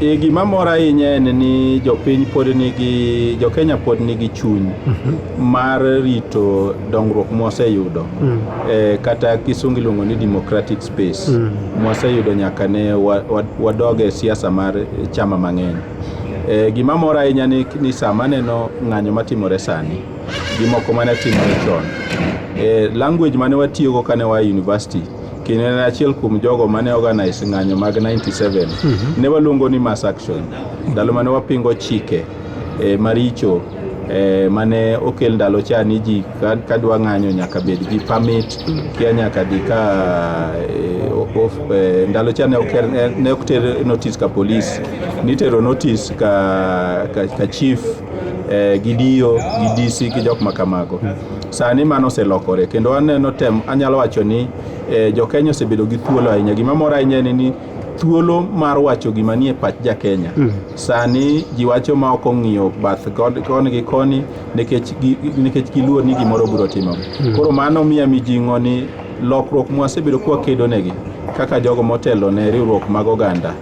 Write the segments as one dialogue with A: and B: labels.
A: E, gima mora ahinya en ni jopiny pod nigi jokenya pod nigi chuny mar rito dongruok mwaseyudo e, kata kisungu iluongo ni democratic space mwaseyudo nyaka ne wa- wa- wadog e siasa mar eh, chama mang'eny e, gima mora ahinya ni, ni sama aneno ng'anyo matimore sani gi moko mane timore chon e, language mane watiyogo kane wa e university kendo en achiel kuom jogo mane organize ng'anyo mag 97 mhm. ne waluongo ni mass action ndalo mane wapingo chike eh, maricho eh, mane okel ndalo cha ni ji kadwa ng'anyo nyaka bed gi permit kia nyaka dhi ka eh, of, eh, ndalo cha ne okel eh, ne ok ter notice ka police nitero notice ka, ka, ka chief eh, gi diyo gi DC gi jok ma kamago. Sani mano oselokore kendo aneno tem anyalo wacho ni eh, jokenya osebedo gi thuolo ahinya. Gima mora ahinya en ni thuolo mar wacho gima nie pach ja Kenya. Mm. Sani ji wacho ma ok ong'iyo bath koni gi koni nikech nikech giluor ni gimoro biro timo. Mm. Koro mano miya mijing'o ni Lokruok mwasebedo kwa kedo negi kaka jogo motelo ne riwruok mag oganda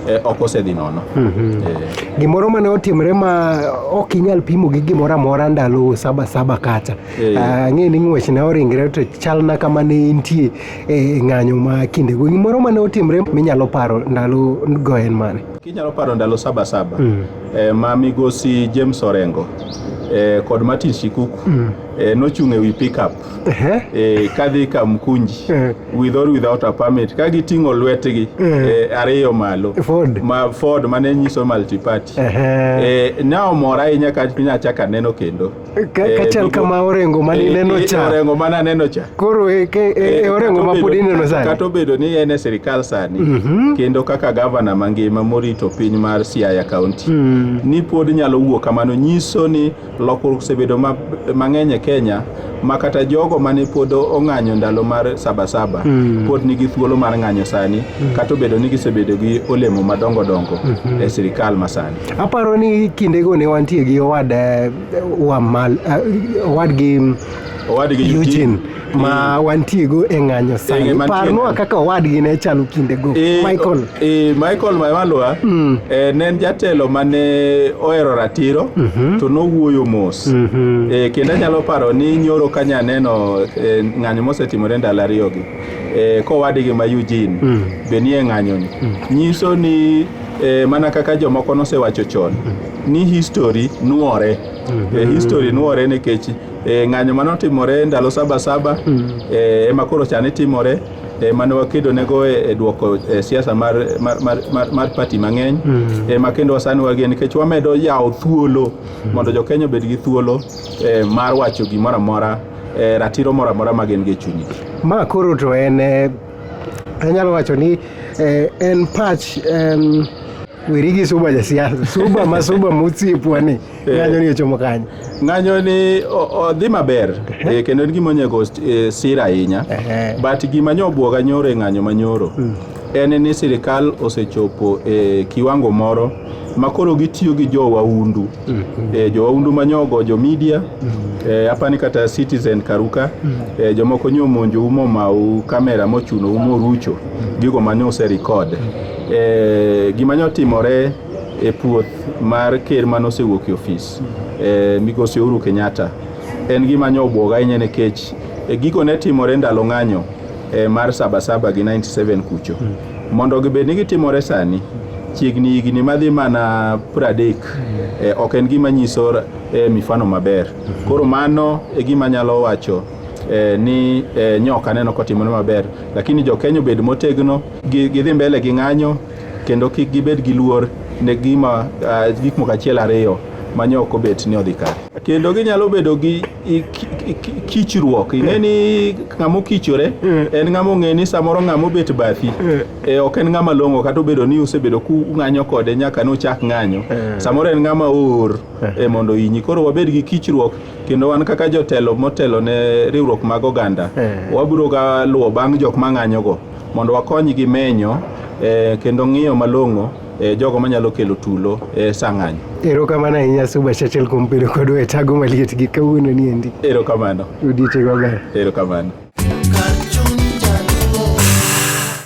A: eh, ok osedhi nono. Mm -hmm. eh.
B: Gimoro mane otimre ma ok inyal pimo gi gimoro amora ndalo saba saba kacha. Eh. Ah, ang'e ni ng'wech ne oringre to chal na kama ne intie e eh, ng'anyo ma kinde go. Gimoro mane otimre minyalo paro ndalo go en mane? Kinyalo paro ndalo
A: saba saba. Mm. Eh, ma migosi James Orengo eh, kod Martin Shikuku mm. eh, nochung' e wi pickup eh, eh, kadhi Kamkunji eh, with or without a permit ka giting'o lwetgi eh, eh, ariyo malo Ford. ma Ford mane nyiso multiparty eh, eh, ne omora ahinya ka nyachako aneno kendo Ka- Eh, kachal duto- kama
B: Orengo mane eh, ineno eh, cha. Orengo mane aneno cha
A: Koro e, ke, e,
B: e Orengo ma pod ineno sani. kata obedo ni en e
A: sirikal sani kendo kaka gavana mangima morito piny mar Siaya County ni pod nyalo wuok kamano nyiso ni Lokruok osebedo mang'eny e Kenya ma kata jogo mane pod ong'anyo ndalo mar sabasaba mm. pod nigi thuolo mar ng'anyo sani mm. kata obedo ni gisebedo gi olemo madongo dongo mm -hmm. e sirikal masani. Aparo ni
B: kindego ne wantie gi owad eh, eh, owad gi owadgi Eugene ma wantiego e ng'anyo sani parnwa kaka owadgi ne chalo kindego e, Michael e,
A: Michael Maimalwa mm. e, ne en jatelo mane ohero ratiro mm -hmm. to nowuoyo mos mm -hmm. e, kendo anyalo paro ni nyoro kanya neno e, ng'anyo mosetimore ndalo ariyogi e, kowadgi ma Eugene mm. be nie ng'anyoni mm. nyiso ni e, mana kaka jomoko nosewacho chon mm. ni history nuore mm -hmm. e, history nuore nikech E, ng'anyo mane otimore ndalo saba saba e, ema koro chani timore e, mane wakedonego e, e duoko e, siasa mar, mar, mar, mar, mar pati mang'eny e, ma kendo wasani wagie nikech wamedo yawo thuolo mondo jokenya obed gi thuolo e, mar wacho gimoro amora e, ratiro moro amora ma gin go e chunygi Ma koro to
B: en eh, anyalo wacho ni eh, en pach em, weri gi suba jasiasa suba ma suba mosiepwa ni Eh. ng'anyo ni ochomo kanye ng'anyo ni
A: odhi maber eh, kendo en gima onyego eh, sira ahinya but gima nyo obwoga nyoro e ng'anyo manyoro hmm. en ni sirikal osechopo e kiwango moro makoro gitiyo gi jowaundu mm -hmm. e, jowaundu manyogo jo media mm -hmm. e, eh, apani kata citizen karuka mm -hmm. e, eh, jomoko nyo monjo umo mau kamera mochuno umo rucho mm -hmm. gigo manyo ose record mm -hmm. e, gima nyo timore e puoth mar ker mane osewuok e ofis eh, migosi Uhuru Kenyatta en gima nyo obwoga ahinya nikech eh, gigo ne timore ndalo ng'anyo eh, mar sabasaba gi 97 kucho mondo gibed ni gitimore sani chiegni higni madhi mana pradek eh, ok en gima nyiso eh, mifano maber koro mano e gima nyalo wacho eh, ni eh, nyoka aneno kotimore maber lakini jokenya obed motegno gi- gidhi mbele gi ng'anyo kendo kik gibed gi luor ne gima uh, gik moko achiel ariyo ma nyo ok obet ni odhi kare kendo ginyalo bedo gi i- ki- ki- ki- kichruok ing'e ni ng'ama okichore en ng'ama ong'e ni samoro ng'ama obet bathi e, ok en ng'ama long'o kata obedo ni usebedo kung'anyo kode nyaka ne uchak ng'anyo samoro en ng'ama oor e, mondo inyi koro wabed gi kichruok kendo wan kaka jotelo motelo ne riwruok mag oganda Eh. wabiro ga luwo bang' jok ma ng'anyogo mondo wakonygi menyo eh, kendo ng'iyo malong'o eh, jogo manyalo kelo tulo eh, sang'anyo. Erokamano ahinya
B: Suba Churchill kuom bedo kodwa e tago maliet gi kawuono ni endi. Erokamano. Odiechieng' maber. Erokamano.